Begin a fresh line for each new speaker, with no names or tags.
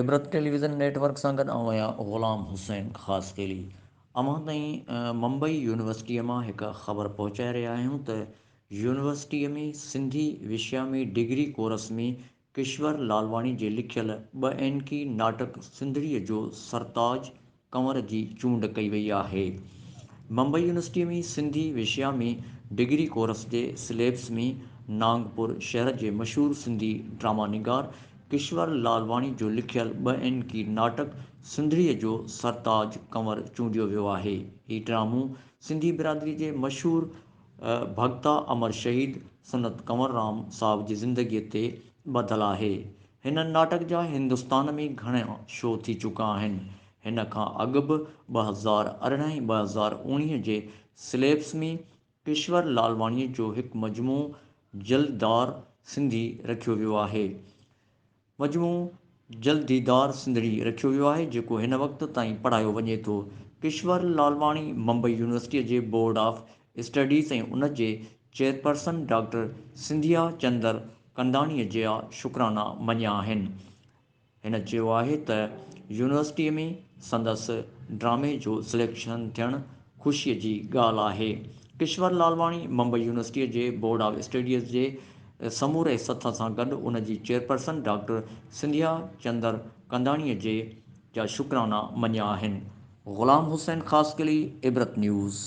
عبرت television network سان گڏ آئون آهيان غلام حسين خاصخيلي. اوهان تائين ممبئي يونيورسٽيء مان هڪ خبر پهچائي رهيا آهيون ته يونيورسٽيء ۾ سنڌي وشيا ۾ ڊگري ڪورس ۾ ڪشور لالواڻي جي لکيل ٻه اينڪي ناٽڪ سنڌڙيء جو سرتاج ڪنور جي چونڊ ڪئي وئي آهي. ممبئي يونيورسٽيء ۾ سنڌي وشيا ۾ ڊگري ڪورس جي سليبس ۾ نانگپور شهر جي مشهور سنڌي ڊراما نگار ڪشور لالواڻي جو لکيل ٻه اينڪي ناٽڪ سنڌڙيء جو سرتاج ڪنور چونڊيو ويو آهي. هي ڊرامو سنڌي برادريء جي مشهور ڀڳتا امر شهيد سنت ڪنور رام صاحب جي زندگيء تي ٻڌل آهي. هن ناٽڪ جا هندستان ۾ گهڻا شو ٿي چڪا آهن. هن کان اڳ به ٻه هزار ارڙهن ۽ ٻه هزار اوڻيهه جي سليبس ۾ ڪشور لالواڻيء جو هڪ مجموعو جلددار سنڌي رکيو ويو آهي. مجموعو جلد ديدار سنڌڙي رکيو ويو آهي، جيڪو هن وقت تائين پڙهايو وڃي ٿو. ڪشور لالواڻي ممبئي يونيورسٽيء جي بورڊ آف اسٽڊيز ۽ ان جي چيئرپرسن ڊاڪٽر سنڌيا چندر ڪنداڻيء جا شڪرانا مڃيا آهن. هن چيو آهي ته يونيورسٽيء ۾ سندس ڊرامي جو سليڪشن ٿيڻ خوشيء جي ڳالهه آهي ڪشور لالواڻي ممبئي يونيورسٽيء جي بورڊ آف اسٽڊيز جي سموري سٿ سان گڏ ان جي چيئرپرسن ڊاڪٽر سنڌيا چندر ڪنداڻيء جي جا شڪرانا مڃيا آهن. غلام حسين خاصخيلي عبرت نيوز.